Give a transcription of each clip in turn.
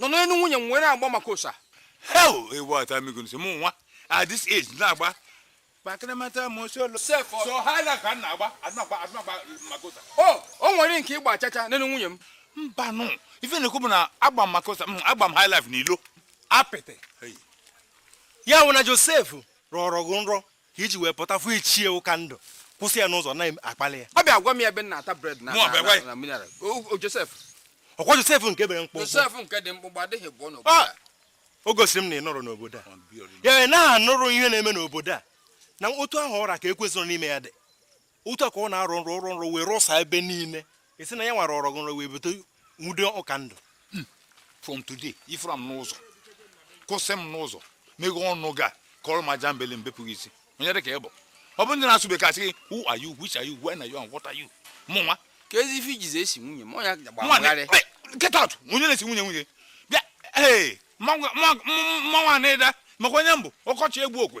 nọ n'elu nwunye m were agba makosa hell ewu ata m igu n'isi mụ nwa at this age na-agba kpakịrịmata m osi olu sef ọ- so ha na ka m na-agba adị na-agba adị na-agba makosa o o nwere nke ị gba chacha n'elu nwunye m mba nụ ife m na-ekwu bụ na agba m makosa mm, agba m high life n'ilo apịtị Hey. ya wụ na josef rọrọ gị nrọ ka i ji wee pụta fụ ichie Ụkandụ kwụsị ya n'ụzọ na-akpali ya ọ bịa gwa m ya ebe m na-ata bread na Mụọ, bịa gwa ya. na mineral O- o Josef ọkwa josef nke pere mkpụmkpụ Josef nke dị mkpụmkpụ adịghị abụọ n'obodo Ah! a. o gosiri m na ị nọrọ n'obodo a ya ị na-anụrụ ihe na-eme n'obodo a na otu ahụ ọ ra ka ekwensu dị n'ime ya dị otu a ka ọ na-arọ nrọ ọ rọ nrọ wee rọsa ebe niile esi na ya nwara ọ rọ nrọ wee bute nwunye Ụkandụ hmm. from today ị fụra m n'ụzọ kwụsị m n'ụzọ meghe ọnụ gị kọrọ m ajambele m bepụ gị isi onye dị ka ị bụ ọ bụ ndị na-asụ bekee asị gị who are you which are you when are you and what are you mụ nwa ka ezi ife i jizi esi nwunye m ọnya gbagharị get out onye na-esi nwunye nwunye bịa ee mmanwụ na-eda maka onye m bụ ọkọchị egbu okwe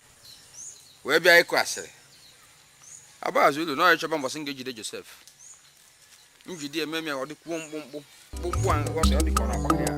wee bịa ịkụ asịrị agba azụ ụlọ na ọya chọba mbọsị m ga-ejide josef m jide ya mee m ya ọ dịkwuo mkpụmkpụ mkpụmkpụ ahụ ọ dị ka ọ na-agbakọ ya